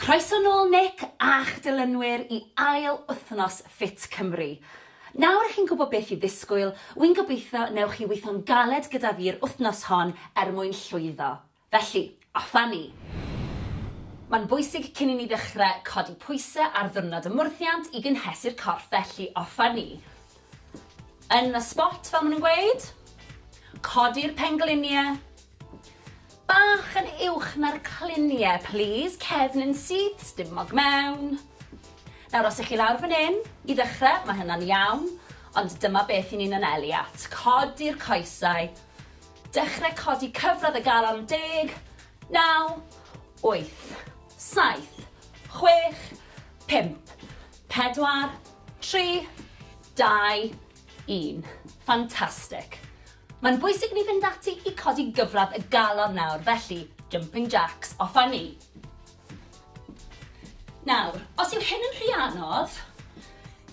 Croeso nôl Nick a'ch dilynwyr i ail wythnos Fit Cymru. Nawr i chi'n gwybod beth i ddisgwyl, wi'n gobeithio newch chi weithio'n galed gyda fi'r wythnos hon er mwyn llwyddo. Felly, off a ni! Mae'n bwysig cyn i ni ddechrau codi pwysau ar ddiwrnod y mwrthiant i gynhesu'r corff felly off a ni! Yn y spot fel maen nhw'n gweud. Codi'r pengliniau. Bach yn uwch na'r clunie plîs, cefn yn syth, stumog mewn. Nawr os 'ych chi lawr fan 'yn, i ddechre, ma' hynna'n iawn, ond dyma beth 'yn ni'n anelu at, codi'r coesau, dechre codi cyfradd y galon, deg, naw, wyth, saith, chwech, pump, pedwar, tri, dau, un. Fantastic! Mae'n bwysig ni fynd ati i codi gyfradd y galon nawr, felly, jumping jacks, off â ni! Nawr, os yw hyn yn rhy anodd,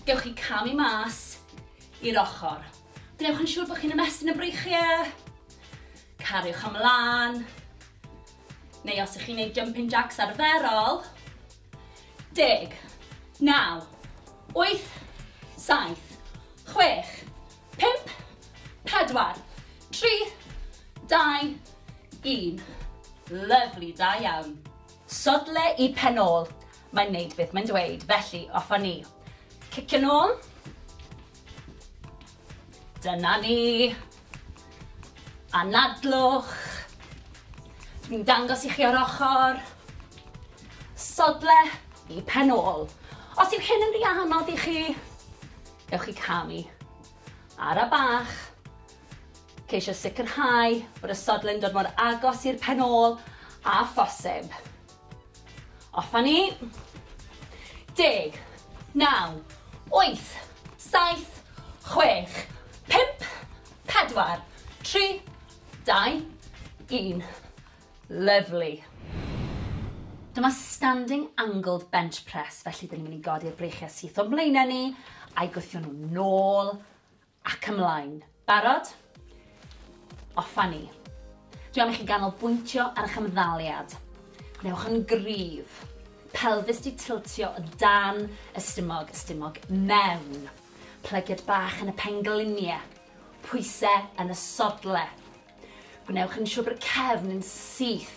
gewch chi camu mas i'r ochr. Gwnewch yn siŵr bod chi'n ymestyn y breichiau, cariwch ymlaen, neu os ych chi'n gwneud jumping jacks arferol, Deg. Naw. Wyth. Saith. Chwech. Pump. Pedwar. Tri. Dau. Un. Lyfli, da iawn. Sodle i pen ôl. Mae'n neud beth mae'n dweud, felly off a ni. Cicio nôl. Dyna ni. Anadlwch. Dwi'n dangos i chi o'r ochr. Sodle i pen ôl. Os yw hyn yn rhy anodd i chi, gewch chi camu. Ara bach. Ceisio sicrhau bod y sodle'n dod mor agos i'r pen ôl a phosib. Off a ni. Deg. Naw. Wyth. Saith. Chwech. Pump. Pedwar. Tri. Dau. Un. Lyfli. Dyma standing angled bench press, felly dyn ni'n mynd i godi'r breichiau syth o'n mlaenau ni, a'i gwthio nhw nôl Ac ymlaen. Barod? Off a ni. Dwi am i chi ganolbwyntio ar eich ymddaliad. Gwnewch yn gryf. Pelfis di tiltio o dan y stumog, y stumog mewn. Plygiad bach yn y penglinie. Pwyse yn y sodle. Gwnewch yn siwr bod y cefn yn syth.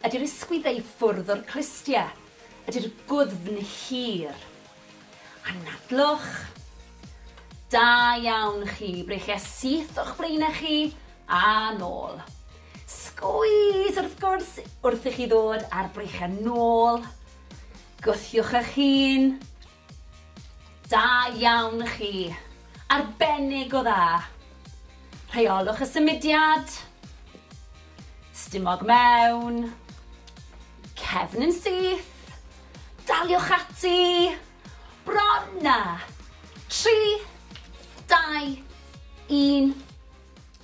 Ydy'r ysgwydd ei ffwrdd o'r clustie? Ydy'r gwddfn hir? Anadlwch. Da iawn chi, breichie syth o'ch blaenau chi, a nôl. Sgwys wrth gwrs wrth i chi ddod a'r breichiau nôl. Gwthiwch eich hun. Da iawn chi! Arbennig o dda! Rheolwch y symudiad. Stumog mewn. Cefn yn syth. Daliwch ati. Bron na! 3, 2, 1.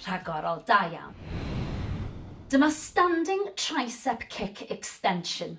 Rhagorol, da iawn. Dyma Standing Tricep Kick Extension.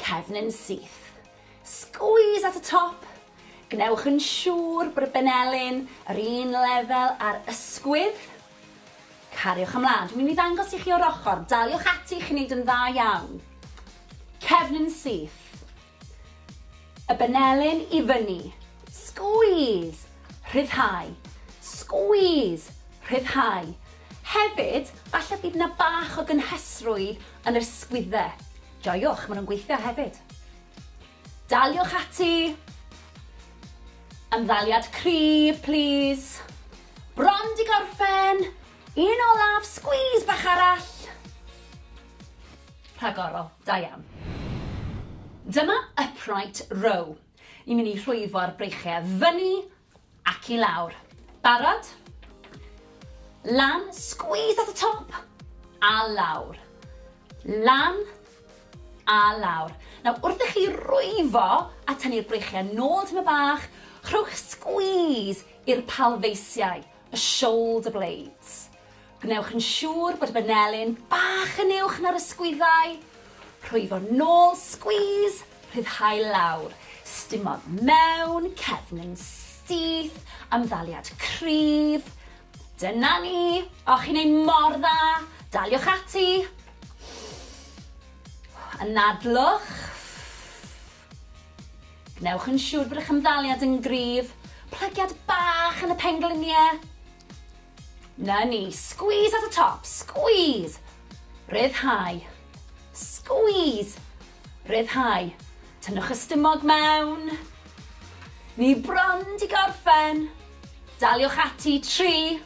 Cefn yn syth. Squeeze at y top. Gwnewch yn siŵr bod y benelin yr un lefel â'r ysgwydd. Cariwch ymlaen. Dwi'n mynd i ddangos i chi o'r ochr. Daliwch ati, chi'n neud yn dda iawn. Cefn yn syth. Y benelin i fyny. Squeeze. Rhyddhau. Squeeze. Rhyddhau. Hefyd, falle bydd na bach o gynhesrwydd Yn yr ysgwydde. Joiwch, maen nhw'n gweithio hefyd. Daliwch ati! Ymddaliad cryf, plis. Bron di gorffen! Un olaf, squeeze bach arall! Rhagorol, da iawn. Dyma upright row. Ni'n mynd i rhwyfo'r breichiau fyny Ac i lawr. Barod? Lan, squeeze at y top, a lawr. Lan, a lawr. Nawr, wrth i chi rwyfo a tynnu'r breichiau nôl tym y bach, rhowch squeeze i'r palfeisiau, y shoulder blades. Gwnewch yn siŵr bod y banelin bach yn uwch na'r ysgwyddau. Rhwyfo nôl, squeeze, rhyddhau lawr. Stumog mewn, cefn yn syth, ymddaliad cryf. Dyna ni! O, chi'n ei mor dda! Daliwch ati! Anadlwch. Gwnewch yn siŵr bod eich ymddaliad yn gryf. Plygiad bach yn y pengliniau. Na ni. Squeeze at y top. Squeeze. Rhyddhau. Squeeze. Rhyddhau. Tynnwch y stumog mewn. Ni bron di gorffen. Daliwch ati. 3,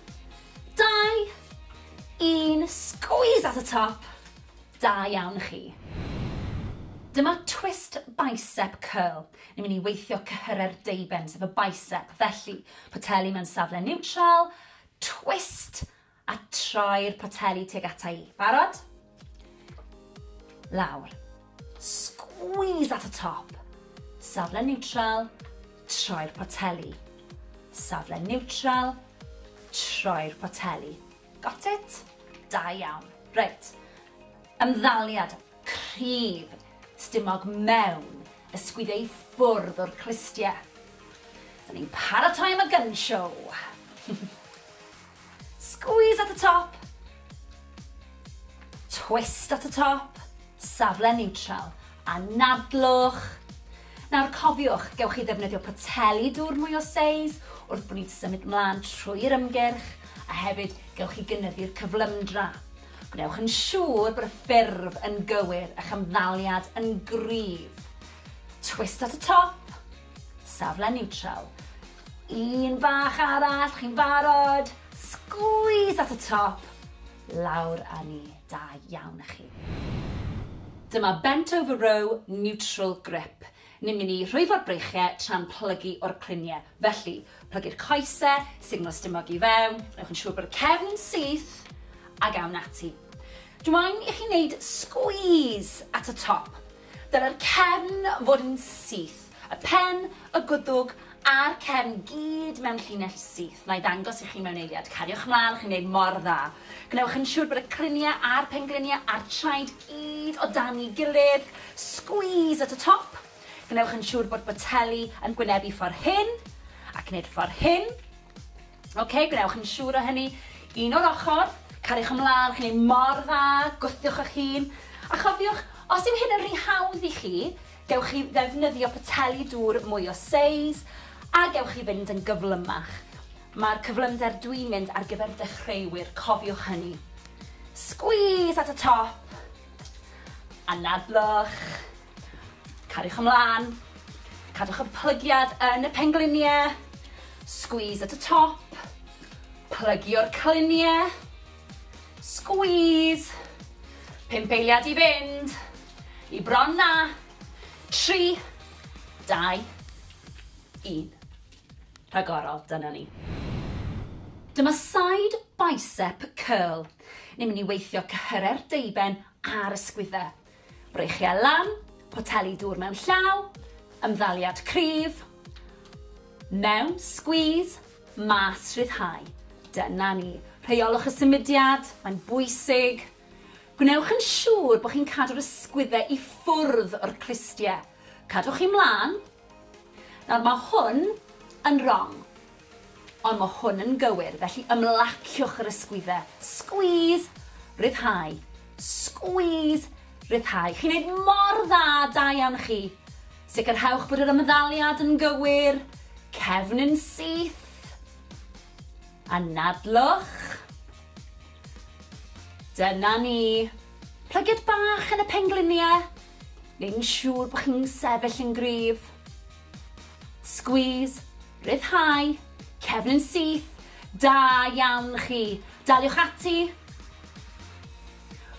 2, 1. Squeeze at y top. Da iawn chi. Dyma twist bicep curl. Ni'n mynd i weithio cyhyrau'r deuben, sef y bicep. Felly, poteli mewn safle niwtral, twist, a troi'r poteli tuag ata i. Barod? Lawr. Squeeze at y top. Safle niwtral, troi'r poteli. Safle niwtral, troi'r poteli. Got it? Da iawn. Reit. Ymddaliad cryf stumog mewn ysgwyd ei ffwrdd o'r clustie. Da ni'n paratoi am y gun show. Squeeze at y top. Twist at y top. Safle neutral. Anadlwch. Nawr cofiwch, gewch chi ddefnyddio poteli dŵr mwy o seis wrth bo ni'n symud mlan trwy'r ymgyrch, a hefyd gewch chi gynyddu'r cyflymdra. Gwnewch yn siŵr bod y ffurf yn gywir, a'ch ymddaliad yn gryf. Twist at y top, safle niwtral. Un bach arall, chi'n barod? Sgwîs at y top, lawr â ni. Da iawn a chi. Dyma bent over row neutral grip. Ni'n mynd i rhwyfo'r breichie tra'n plygu o'r clunie. Felly, plygu'r coese, signal stumog i fewn, newch yn siŵr bod y cefn yn syth, ag awn ati. Dw i'n i chi wneud squeeze at y top. Dylai'r cefn fod yn syth, y pen, y gwddwg a'r cefn gyd mewn llinell syth. Wna i ddangos i chi mewn eiliad. Cariwch mlaen, chi'n gwneud mor dda. Gwnewch yn siŵr bod y criniau a'r pengliniau a'r traed gyd o dan i gilydd. Squeeze at y top. Gwnewch yn siŵr bod boteli yn gwynebu ffordd hyn, ac wneud ffordd hyn. Ok, gwnewch yn siŵr o hynny. Un o'r ochr, cariwch ymlaen, chi'n ei mor dda, gwthiwch eich hun. A chofiwch, os yw hyn yn rhy hawdd i chi, gewch chi ddefnyddio poteli dŵr mwy o seis, a gewch chi fynd yn gyflymach. Mae'r cyflymder dwi'n mynd ar gyfer dechreuwyr, cofiwch hynny. Squeeze at y top, anadlwch. Cariwch ymlaen. Cadwch y plygiad yn y pengliniau. Squeeze at y top. Plygio'r cliniau. Squeeze. Pump eiliad i fynd. I bron na. Tri. Dau. Un. Rhagorol, dyna ni. Dyma side bicep curl. Ni'n mynd i weithio cyhyrau'r deiben a'r ysgwyddau. Breichiau lan, poteli dŵr mewn llaw, ymddaliad cryf, mewn, squeeze, mas, rhyddhau. Dyna ni. Rheiolwch y symudiad, mae'n bwysig. Gwnewch yn siŵr bod chi'n cadw'r ysgwyddau i ffwrdd o'r clustiau. Cadwch chi mlaen, Nawr mae hwn yn rong, ond mae hwn yn gywir, felly ymlaciwch yr ysgwydde. Squeeze! Rhyddhau. Squeeze! Rhyddhau. Chi'n neud mor dda, da iawn chi. Sicrhewch bod yr ymddaliad yn gywir. Cefn yn syth. Anadlwch. Dyna ni. Plygiad bach yn y pengliniau. neu'n siŵr bod chi'n sefyll yn gryf. Squeeze, rhyddhau, cefn yn syth, da iawn chi. Daliwch ati.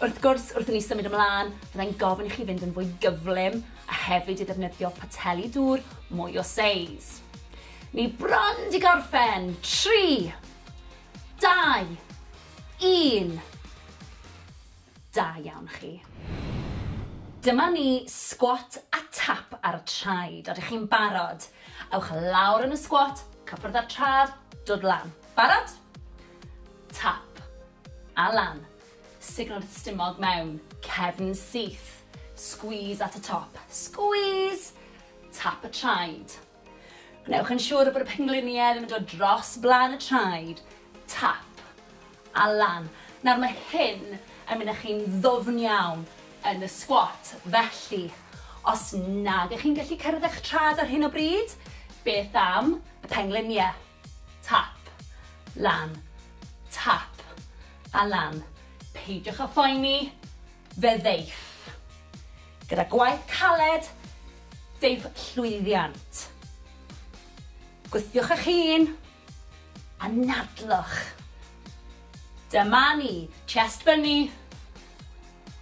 Wrth gwrs, wrth i ni symud ymlaen, byddai'n gofyn i chi fynd yn fwy gyflym a hefyd i ddefnyddio poteli dŵr mwy o seis. Ni bron di gorffen. 3, 2, 1. Da iawn chi. Dyma ni, sgwat a tap ar y traed. Odych chi'n barod? Ewch lawr yn y sgwat, cyffwrdd â'r trad, dod lan. Barod? Tap. A lan. Signo'r stumog mewn. Cefn syth. Squeeze at y top. Squeeze! Tap y traed. Gwnewch yn siŵr bod y pengliniau ddim yn dod dros blaen y traed, tap, a lan. Nawr mae hyn yn mynd â chi'n ddwfn iawn yn y squat, felly os nag ych chi'n gallu cyrraedd eich traed ar hyn o bryd, beth am y pengliniau? Tap. Lan. Tap. A lan. Peidiwch â phoeni, fe ddeiff. Gyda gwaith caled, deiff llwyddiant. Gwthiwch eich hun. Anadlwch. Dyma ni. Chest fyny.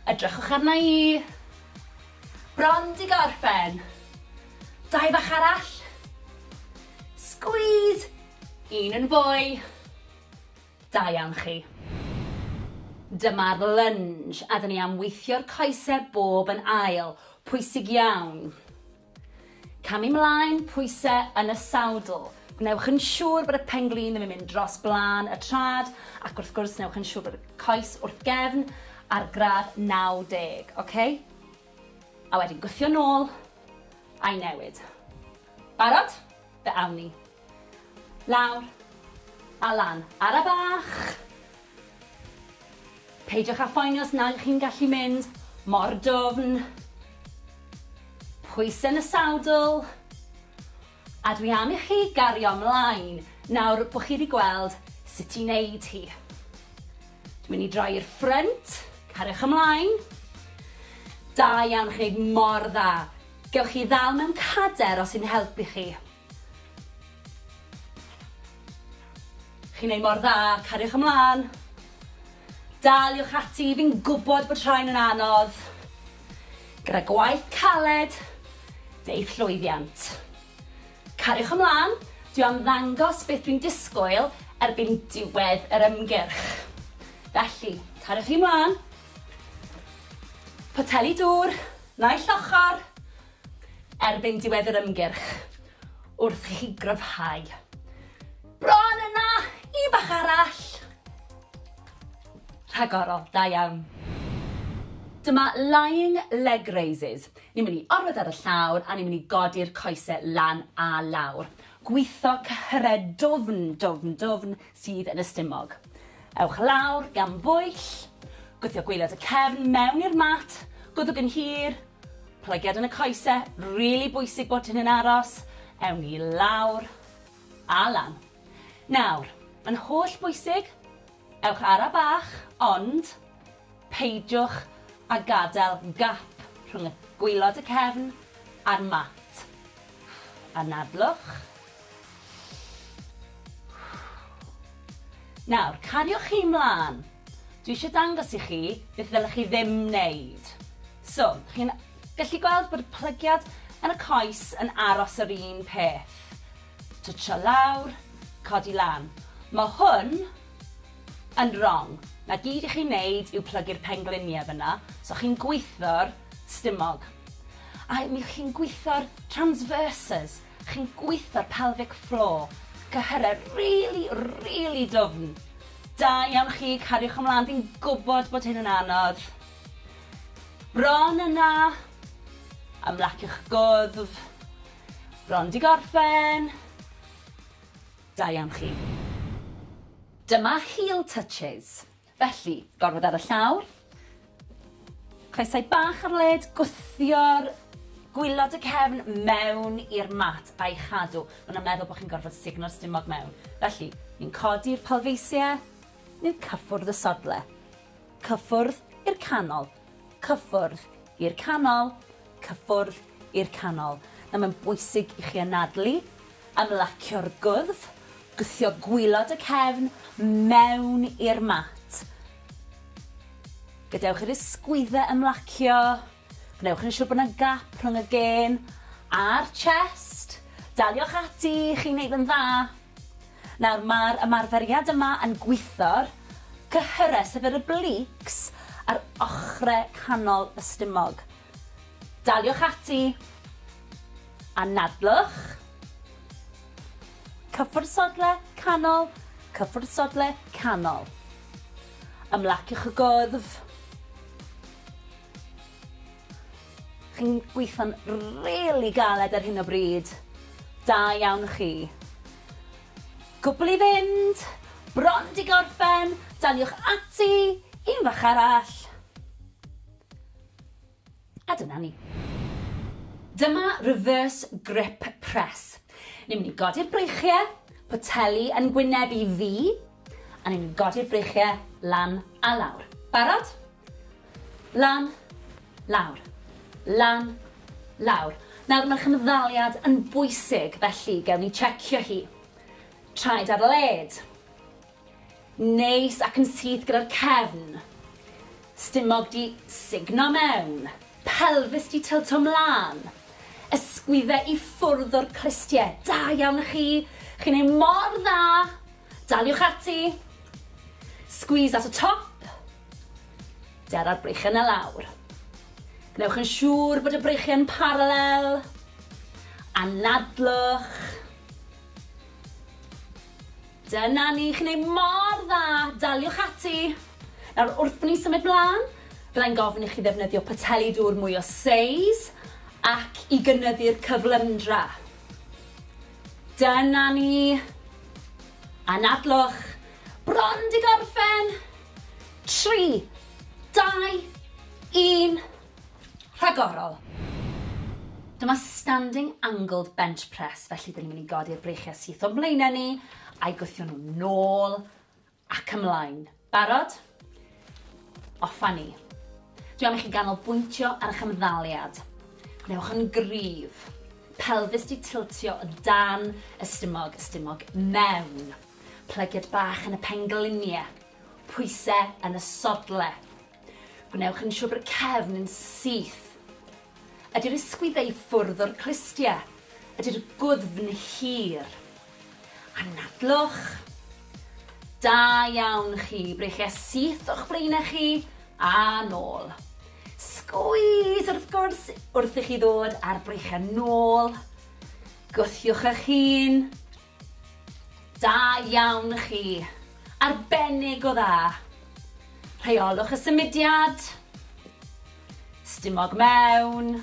Edrychwch arna i. Bron di gorffen. Dau bach arall. Squeeze! Un yn fwy. Da iawn chi. Dyma'r lunge a dyn ni am weithio'r coesau bob yn ail. Pwysig iawn. Camu 'mlaen, pwyse yn y sawdl. Gwnewch yn siŵr bod y pen-glin ddim yn mynd dros blaen y trad, ac wrth gwrs newch yn siŵr bod y coes wrth gefn ar gradd 90, oce? A wedyn gwthio nôl, a'i newid. Barod? Fe awn ni. Lawr. A lan. Ara bach! Peidiwch â phoeni os nag ych chi'n gallu mynd mor dwfn. Pwysau yn y sawdl. A dwi am i chi gario mlaen nawr bod chi wedi gweld sut i wneud hi. Dwi'n mynd i droi i'r ffrynt. Cariwch ymlaen. Da iawn, chi'n gwneud mor dda. Gewch chi ddal mewn cader os sy'n helpu chi. Chi'n neud mor dda, cariwch ymlan. Daliwch ati, fi'n gwbod bod rhain yn anodd. Gyda gwaith caled, deu'th llwyddiant. Cariwch ymlan, dwi am ddangos beth dwi'n disgwyl erbyn diwedd yr ymgyrch. Felly, cariwch chi mlan. Poteli dŵr, naill ochr. Erbyn diwedd yr ymgyrch, wrth i chi gryfhau. Bron yna! Un bach arall! Rhagorol, da iawn. Dyma lying leg raises. Ni'n mynd i orwedd ar y llawr a ni'n mynd i godi'r coese lan a lawr. Gwitho cyhyredd dwfn, dwfn, dwfn, sydd yn y stumog. Ewch lawr gan bwyll, gwthio gwaelod y cefn mewn i'r mat, gwddwg yn hir, plygiad yn y coese, rili bwysig bod hyn yn aros, ewn ni lawr a lan. Nawr, yn holl bwysig, ewch ara bach, ond peidiwch a gadael gap rhwng y gwaelod y cefn a'r mat. Anadlwch. Nawr, cariwch chi 'mlan. Dwi eisiau dangos i chi beth ddylech chi ddim wneud. So, chi'n gallu gweld bod y plygiad yn y coes yn aros yr un peth. Twtsio lawr, codi lan. Mae hwn yn wrong. Na gyd i chi wneud yw plygu'r pengliniau fyna, so chi'n gweithio'r stumog. A mi chi'n gweithio'r transverses, Chi'n gweithio'r pelvic floor. Cyhyrau rili, rili dwfn. Da iawn chi, cariwch ymlaen, fi'n gwybod bod hyn yn anodd. Bron yna. Ymlaciwch gwddf. Bron di gorffen. Da iawn chi. Dyma heel touches. Felly, gormod ar y llawr. Coesau bach ar led, gwthio'r gwylod y cefn mewn i'r mat a'i chadw. Maen nhw'n meddwl bod chi'n gorfod sugno'r stumog mewn. Felly, ni'n codi'r palfeisiau, ni'n cyffwrdd y sodle. Cyffwrdd i'r canol. cyffwrdd i'r canol, cyffwrdd i'r canol. Nawr mae'n bwysig i chi anadlu, ymlacio'r gwddf, gwthio gwylod y cefn mewn i'r mat. Gadewch i'r ysgwyddau ymlacio, gwnewch yn siŵr bod yna gap rhwng y gên a'r chest. Daliwch ati, chi'n neud yn dda. Nawr mae'r ymarferiad yma yn gwitho'r cyhyrau, sef yr obliques, ar ochrau canol y stumog. Daliwch ati. Anadlwch. Cyffwrdd sodle, canol, cyffwrdd sodle, canol. Ymlaciwch y gwddf. Chi'n gweitho'n rili galed ar hyn o bryd. Da iawn chi. Cwbl i fynd! Bron di gorffen! Daliwch ati! Un fach arall! A dyna ni. Dyma reverse grip press. Ni'n mynd i godi'r breichiau, poteli yn gwyneb i fi, a ni'n mynd i godi'r breichiau lan a lawr. Barod? Lan. Lawr. Lan. Lawr. Nawr, mae'r cymddaliad yn bwysig, felly gewn ni checio hi. Traed ar led. Neis ac yn syth gyda'r cefn. Stumog di signo mewn. Pelfis di tilto mlaen. Ysgwydde i ffwrdd o'r clustie. Da iawn i chi. Chi'n ei mor dda. Daliwch ati. Squeeze at y top. Dara'r breichiau 'na lawr. Gwnewch yn siŵr bod y breichiau yn paralel. Anadlwch. Dyna ni, chi'n ei mor dda, daliwch ati. Nawr, wrth ni symud mlaen, byddai'n gofyn i chi ddefnyddio poteli dŵr mwy o seis ac i gynyddu'r cyflymdra. Dyna ni. Anadlwch. Bron di gorffen. 3, 2, 1, rhagorol! Dyma standing angled bench press, felly dyn ni'n mynd i godi'r breichiau syth o'n blaenau ni, a'i gwthio nhw nôl ac ymlaen. Barod? Off a ni. Dwi am i chi ganolbwyntio ar eich ymddaliad. Gwnewch yn gryf. Pelfis di tiltio o dan y stumog, y stumog mewn. Plygiad bach yn y pengliniau. Pwysau yn y sodlau. Gwnewch yn siŵr bod y cefn yn syth. Ydy'r ysgwyddau i ffwrdd o'r clustiau? Ydy'r gwddfn hir? Anadlwch. Da iawn chi, breichiau syth o'ch blaenau chi a nôl. Sgwys wrth gwrs wrth i chi ddod a'r breichiau nôl. Gwthiwch eich hun, Da iawn chi! Arbennig o dda! Rheolwch y symudiad. Stumog mewn.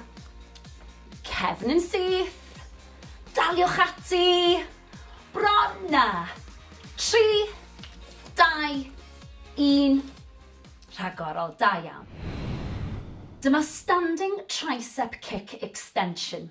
Cefn yn syth. Daliwch ati. Bron na! Tri, dau, un. Rhagorol, da iawn. Dyma Standing Tricep Kick Extension.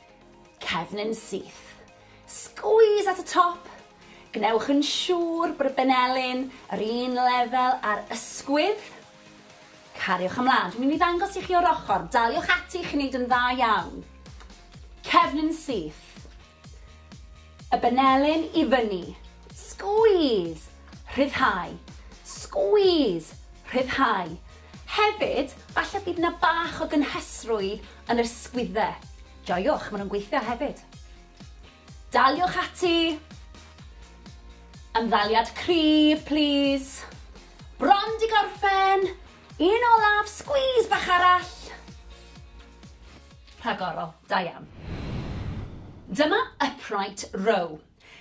Cefn yn syth. Squeeze at y top. Gwnewch yn siŵr bod y benelin yr un lefel â'r ysgwydd. Cariwch ymlaen. Dwi'n mynd i ddangos i chi o'r ochr. Daliwch ati, chi'n neud yn dda iawn. Cefn yn syth. Y benelin i fyny. Squeeze. Rhyddhau. Squeeze. Rhyddhau. Hefyd, falle bydd yna bach o gynhesrwydd Yn yr sgwydde. Joiwch, maen nhw'n gweithio hefyd. Daliwch ati! Ymddaliad cryf, plis. Bron di gorffen! Un olaf, squeeze bach arall! Rhagorol, da iawn. Dyma upright row.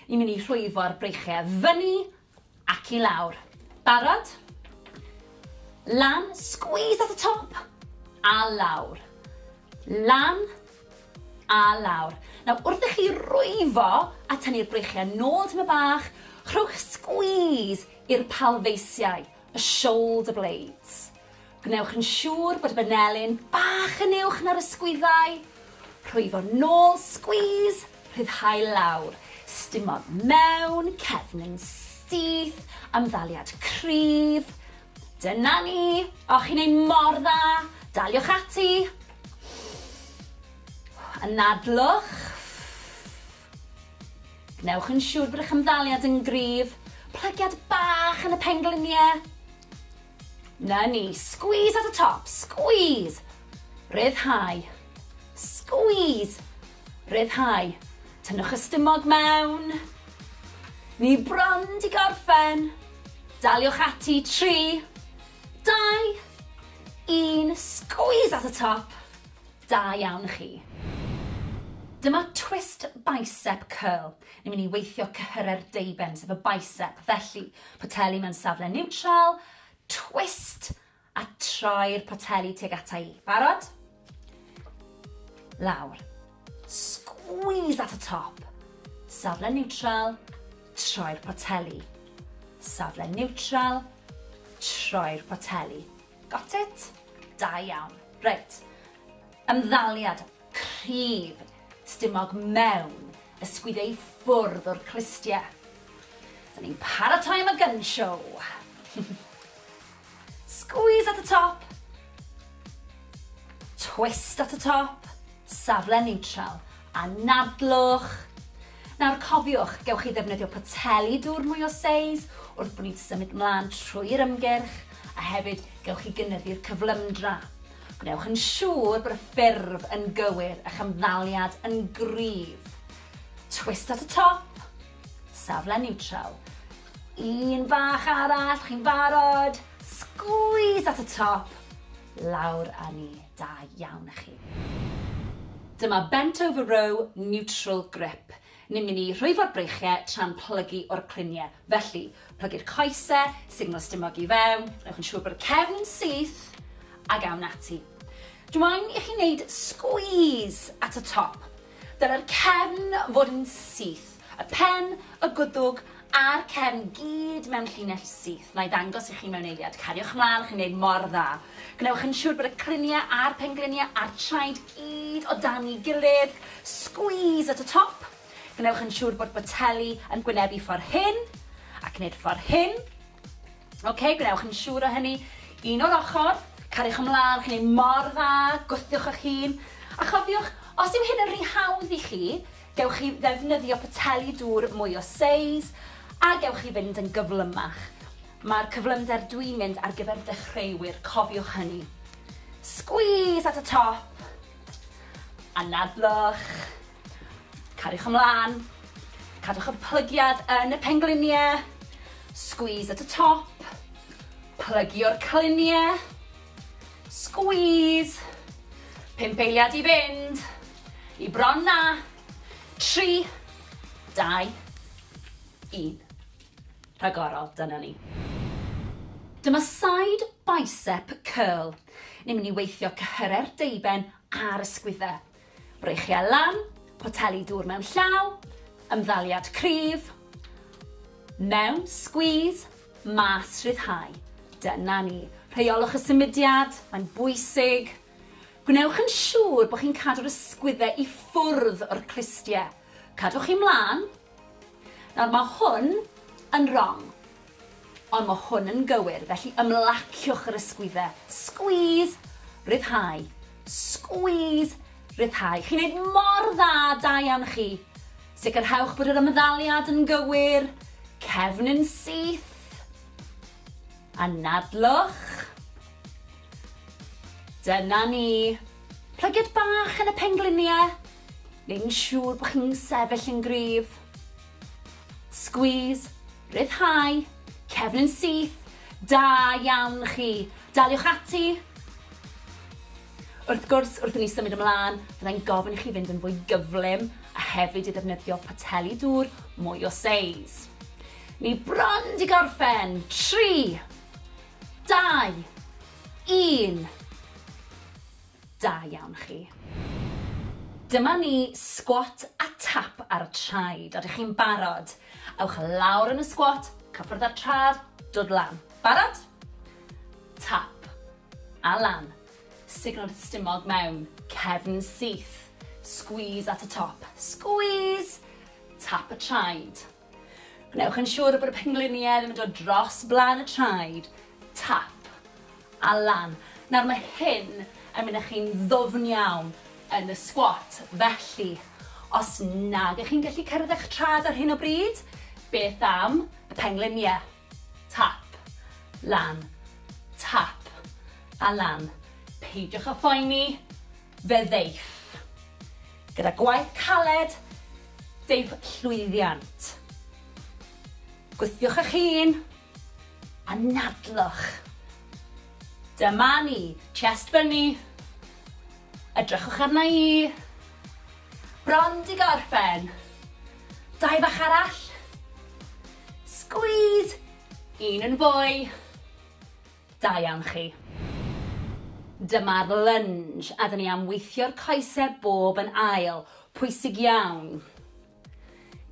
Ni'n mynd i rhwyfo'r breichiau fyny Ac i lawr. Barod? Lan, squeeze at y top, a lawr. Lan, a lawr. Nawr, wrth i chi rwyfo a tynnu'r breichiau nôl tym y bach, rhowch squeeze i'r palfeisiau. y shoulder blades. Gwnewch yn siŵr bod y banelin bach yn uwch na'r ysgwyddau. Rhwyfo nôl, squeeze, rhyddhau lawr. Stumog mewn, cefn yn syth, amddaliad cryf. Dyna ni! O, chi'n ei mor dda! Daliwch ati! Anadlwch. Gwnewch yn siŵr bod eich ymddaliad yn gryf. Plygiad bach yn y pengliniau. Na ni, squeeze at y top, squeeze! Rhyddhau. Squeeze! Rhyddhau. Tynnwch y stumog mewn. Ni bron di gorffen. Daliwch ati, 3, 2, 1, squeeze at y top. Da iawn chi. Dyma twist bicep curl. Ni'n mynd i weithio cyhyrau'r deuben, sef y bicep. Felly, poteli mewn safle niwtral, twist, a troi'r poteli tuag ata i. Barod? Lawr. Squeeze at y top. Safle niwtral, troi'r poteli. Safle niwtral, troi'r poteli. Got it? Da iawn. Reit. Ymddaliad cryf stumog mewn ysgwyd ei ffwrdd o'r clustie. Da ni'n paratoi am y gun show. Squeeze at y top. Twist at y top. Safle neutral. Anadlwch. Nawr cofiwch, gewch chi ddefnyddio poteli dŵr mwy o seis wrth bod ni'n symud mlaen trwy'r ymgyrch, a hefyd gewch chi gynyddu'r cyflymdra. Gwnewch yn siŵr bod y ffurf yn gywir, a'ch ymddaliad yn gryf. Twist at y top, safle niwtral. Un bach arall, chi'n barod? Sgwîs at y top, lawr â ni. Da iawn a chi. Dyma bent over row neutral grip. Ni'n mynd i rhwyfo'r breichiau tra'n plygu o'r cluniau. Felly, plygu'r coesau, signal stumog i fewn, gwnewch yn siŵr bod y cefn yn syth, ac awn ati. Dw i'n i chi wneud squeeze at y top. Dylai'r cefn fod yn syth, y pen, y gwddwg a'r cefn gyd mewn llinell syth. Wna i ddangos i chi mewn eiliad. Cariwch ymlaen, chi'n gwneud mor dda. Gwnewch yn siŵr bod y criniau a'r pengliniau a'r traed gyd o dan ei gilydd. Squeeze at y top. Gwnewch yn siŵr bod boteli yn gwynebu ffordd hyn, ac wneud ffordd hyn. Ok, gwnewch yn siŵr o hynny. Un o'r ochr, cariwch ymlaen, chi'n ei mor dda, gwthiwch eich hun. A chofiwch, os yw hyn yn rhy hawdd i chi, gewch chi ddefnyddio poteli dŵr mwy o seis, a gewch chi fynd yn gyflymach. Mae'r cyflymder dwi'n mynd ar gyfer dechreuwyr, cofiwch hynny. Squeeze at y top, anadlwch. Cariwch ymlaen, cadwch y plygiad yn y pengliniau, squeeze at y top, plygio'r cliniau, squeeze, pump eiliad i fynd, i bron na, tri, dau, un. Rhagorol, dyna ni. Dyma side bicep curl. Ni'n mynd i weithio cyhyrau'r deuben a'r ysgwyddau. Breichiau lan, poteli dŵr mewn llaw, ymddaliad cryf, mewn, squeeze, mas, rhyddhau. Dyna ni. Rheiolwch y symudiad, mae'n bwysig. Gwnewch yn siŵr bod chi'n cadw'r ysgwyddau i ffwrdd o'r clustiau. Cadwch chi mlaen, Nawr mae hwn yn rong. Ond mae hwn yn gywir, felly ymlaciwch yr ysgwydde. Squeeze! Rhyddhau. Squeeze! Rhyddhau. Chi'n neud mor dda, da iawn chi. Sicrhewch bod yr ymddaliad yn gywir. Cefn yn syth. Anadlwch. Dyna ni. Plygiad bach yn y pengliniau. neu'n siŵr bod chi'n sefyll yn gryf. Squeeze, rhyddhau, cefn yn syth, da iawn chi. Daliwch ati. Wrth gwrs, wrth i ni symud ymlaen, byddai'n gofyn i chi fynd yn fwy gyflym a hefyd i ddefnyddio poteli dŵr mwy o seis. Ni bron di gorffen. 3, 2, 1. Da iawn chi. Dyma ni, sgwat a tap ar y traed. Odych chi'n barod? Ewch lawr yn y sgwat, cyffwrdd â'r trad, dod lan. Barod? Tap. A lan. Sugno'r stumog mewn, cefn syth. Squeeze at y top. Squeeze! Tap y traed. Gwnewch yn siŵr bod y pengliniau ddim yn dod dros blaen y traed, tap, a lan. Nawr mae hyn yn mynd â chi'n ddwfn iawn yn y squat, felly os nag ych chi'n gallu cyrraedd eich traed ar hyn o bryd, beth am y pengliniau? Tap. Lan. Tap. A lan. Peidiwch â phoeni, fe ddeiff. Gyda gwaith caled, deiff llwyddiant. Gwthiwch eich hun. Anadlwch. Dyma ni. Chest fyny. Edrychwch arna i. Bron di gorffen. Dau bach arall. Squeeze! Un yn fwy. Da iawn chi. Dyma'r lunge a dyn ni am weithio'r coesau bob yn ail. Pwysig iawn.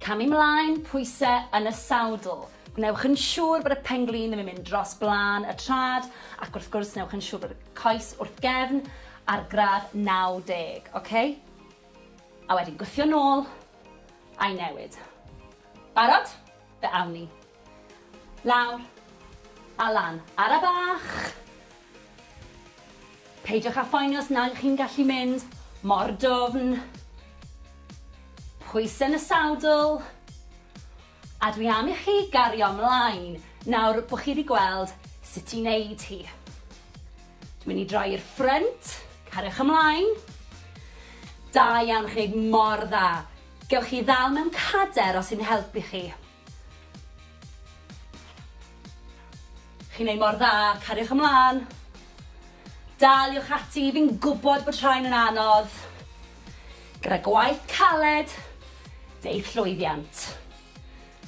Cam i mlaen, pwyse yn y sawdl. Gwnewch yn siŵr bod y pen-glin ddim yn mynd dros blaen y trad ac wrth gwrs newch yn siŵr bod y coes wrth gefn ar gradd 90, oce? A wedyn gwthio nôl a'i newid. Barod? Fe awn ni. Lawr. A lan. Ara bach! Peidiwch â phoeni os nag ych chi'n gallu mynd mor dwfn. Pwysau yn y sawdl. A dwi am i chi gario mlaen nawr bod chi wedi gweld sut i wneud hi. Dwi'n mynd i droi i'r ffrynt. Cariwch ymlaen. Da iawn, chi'n gwneud mor dda. Gewch chi ddal mewn cader os sy'n helpu chi. Chi'n neud mor dda, cariwch ymlan. Daliwch ati, fi'n gwbod bod rhain yn anodd. Gyda gwaith caled, deu'th llwyddiant.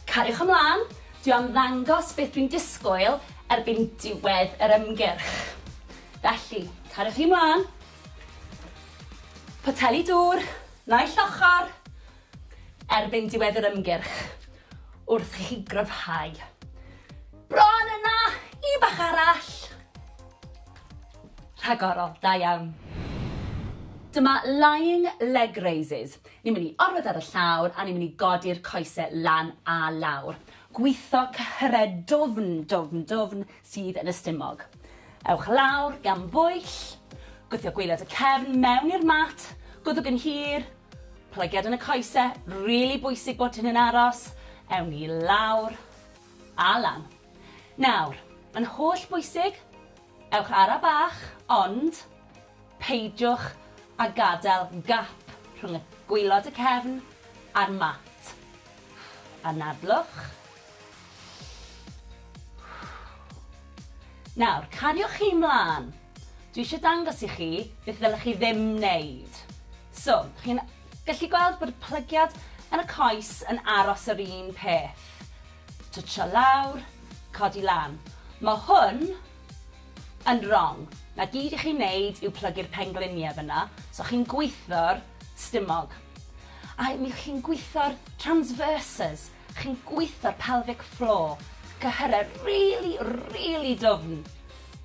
Cariwch ymlan, dwi am ddangos beth dwi'n disgwyl erbyn diwedd yr ymgyrch. Felly, cariwch chi mlan. Poteli dŵr, naill ochr. erbyn diwedd yr ymgyrch wrth i chi gryfhau. Bron yna! Un bach arall! Rhagorol, da iawn. Dyma lying leg raises. Ni'n mynd i orwedd ar y llawr a ni'n mynd i godi'r coesau lan a lawr. Gwitho cyhyrau dwfn, dwfn, dwfn, sydd yn y stumog. Ewch lawr gan bwyll, gwthio gwaelod y cefn mewn i'r mat, gwddwg yn hir, plygiad yn y coese, rili bwysig bod hyn yn aros, ewn ni lawr a lan. Nawr, mae'n holl bwysig, ewch ara bach, ond peidiwch a gadael gap rhwng y gwaelod y cefn a'r mat. Anadlwch, Nawr, cariwch chi 'mlan. Dwi eisiau dangos i chi beth ddylech chi ddim wneud. So, chi'n gallu gweld bod y plygiad yn y coes yn aros yr un peth. Twtsio lawr, codi lan. Mae hwn yn wrong. Na gyd i chi wneud yw plygu'r pengliniau fyna, so chi'n gwitho'r stumog. A mi chi'n gwitho'r transverses. Chi'n gweitho'r pelvic floor. Cyhyrau rili, rili dwfn.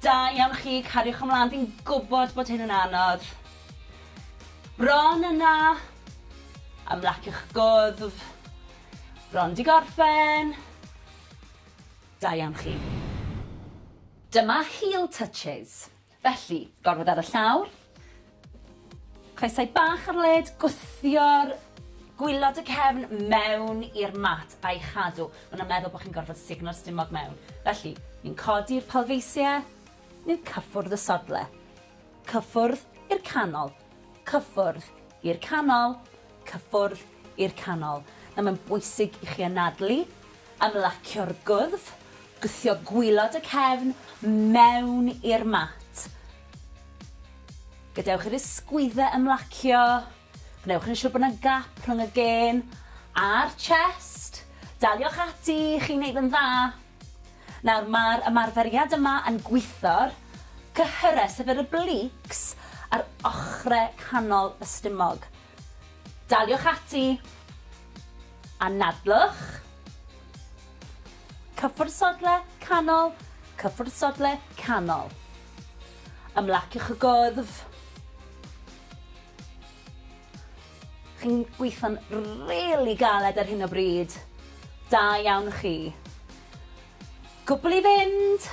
Da iawn chi, cariwch ymlaen, fi'n gwybod bod hyn yn anodd. Bron yna. Ymlaciwch gwddf. Bron di gorffen. Da iawn chi. Dyma heel touches. Felly, gorfod ar y llawr. Coesau bach ar led, gwthio'r gwylod y cefn mewn i'r mat a'i chadw. Maen nhw'n meddwl bod chi'n gorfod sugno'r stumog mewn. Felly, ni'n codi'r palfeisiau, ni'n cyffwrdd y sodle. Cyffwrdd i'r canol. cyffwrdd i'r canol, cyffwrdd i'r canol. Nawr mae'n bwysig i chi anadlu, ymlacio'r gwddf, gwthio gwylod y cefn mewn i'r mat. Gadewch i'r ysgwyddau ymlacio, gwnewch yn siŵr bod yna gap rhwng y gên a'r chest. Daliwch ati, chi'n neud yn dda. Nawr mae'r ymarferiad yma yn gwitho'r cyhyrau, sef yr obliques, ar ochrau canol y stumog. Daliwch ati. Anadlwch. Cyffwrdd sodle, canol, cyffwrdd sodle, canol. Ymlaciwch y gwddf. Chi'n gweithio'n rili galed ar hyn o bryd. Da iawn chi. Cwbl i fynd!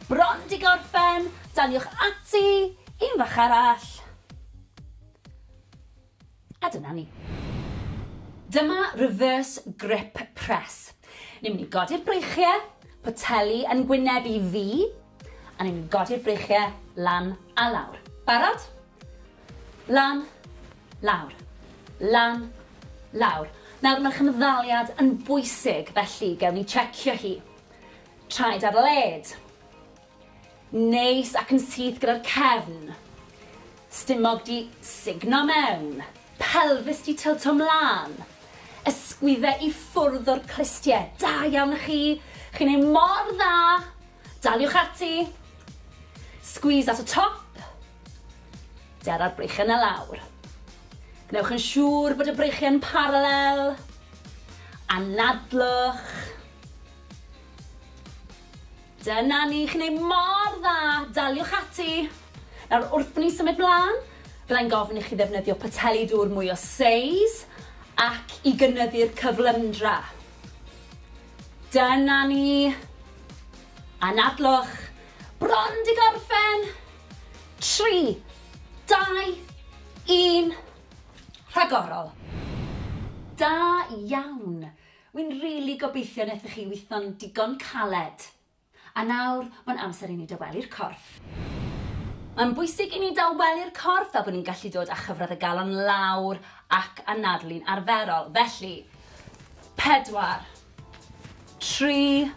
Bron 'di gorffen! Daliwch ati! Un fach arall! A dyna ni. Dyma reverse grip press. Ni'n mynd i godi'r breichiau, poteli yn gwyneb i fi, a ni'n mynd i godi'r breichiau lan a lawr. Barod? Lan. Lawr. Lan. Lawr. Nawr, mae'r cymddaliad yn bwysig, felly gewn ni checio hi. Traed ar led. Neis ac yn syth gyda'r cefn. Stumog di sugno mewn. Pelfis di tilto mlaen. Ysgwydde i ffwrdd o'r clustie. Da iawn i chi. Chi'n ei mor dda. Daliwch ati. Squeeze at y top. Dara'r breichiau 'na lawr. Gwnewch yn siŵr bod y breichiau yn paralel. Anadlwch. Dyna ni, chi'n ei mor dda, daliwch ati. Nawr, wrth ni symud mlaen, byddai'n gofyn i chi ddefnyddio poteli dŵr mwy o seis ac i gynyddu'r cyflymdra. Dyna ni. Anadlwch. Bron di gorffen. 3, 2, 1, rhagorol! Da iawn! Wi'n rili gobeithio nethoch chi witho'n digon caled. A nawr, mae'n amser i ni dawelu'r corff. Mae'n bwysig i ni dawelu'r corff fel bod ni'n gallu dod â chyfradd y galon lawr ac anadlu'n arferol. Felly, 4, 3,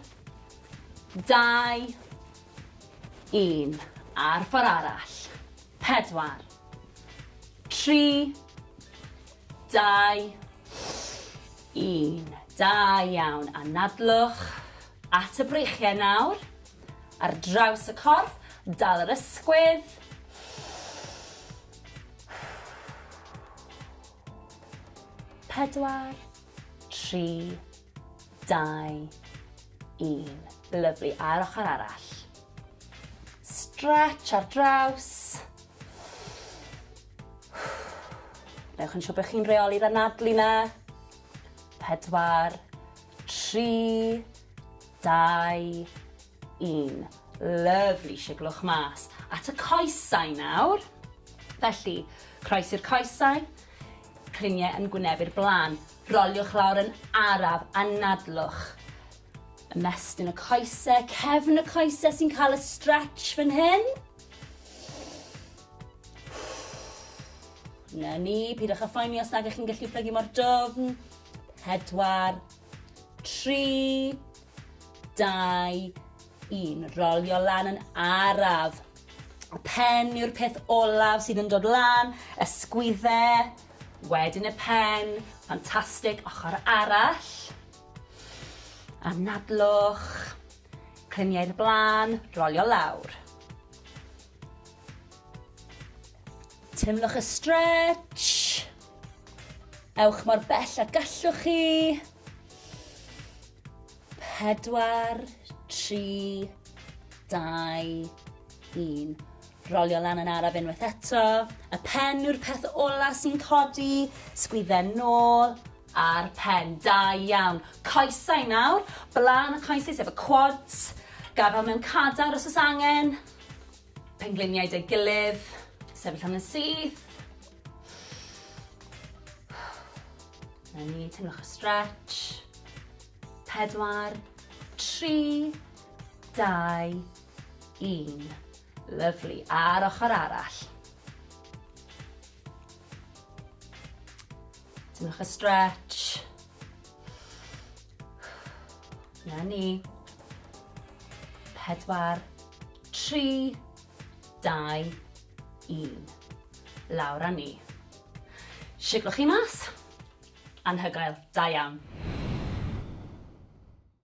2, Un. Ar ffor arall. Pedwar. Tri. Dau. Un. Da iawn. Anadlwch at y breichiau nawr. Ar draws y corff. Dal yr ysgwydd. Pedwar. Tri. Dau Dau. Un. Lyfli. A'r ochr arall. Stretch ar draws. Newch yn siŵr bod chi'n reoli'r anadlu na. Pedwar. Tri. Dau. Un. Lyfli, siglwch mas at y coesau nawr. Felly, croes i'r coesau, cliniau yn gwynebu'r blaen. Roliwch lawr yn araf, anadlwch. Ymestyn y coesau, cefn y coesau sy'n cael y stretch fan hyn. Na ni, pidwch â phoeni os nag ych chi'n gallu plygu mor dwfn. Pedwar, tri, dau, un. Rolio lan yn araf. Y pen yw'r peth olaf sydd yn dod lan, ysgwydde, wedyn y pen, ffantastig, ochr arall. Anadlwch, cliniau'r blaen, rolio lawr. Teimlwch y stretch. Ewch mor bell a gallwch chi. Pedwar, tri, dau, un. Rolio lan yn araf unwaith eto. Y pen yw'r peth ola sy'n codi. Sgwydden nôl a'r pen. Da iawn. Coesau nawr. Blaen y coesau sef y quads. Gafel mewn cadar os oes angen. Pengliniau deu gilydd, sefyll am yn syth. Na ni, teimlwch y stretch. Pedwar, tri, dau, un. Lyflu, a'r ochr arall. Teimlwch y stretch. Na ni. Pedwar, tri, dau, un. Lawr a ni. Siglwch chi mas. Anhygoel. Da iawn.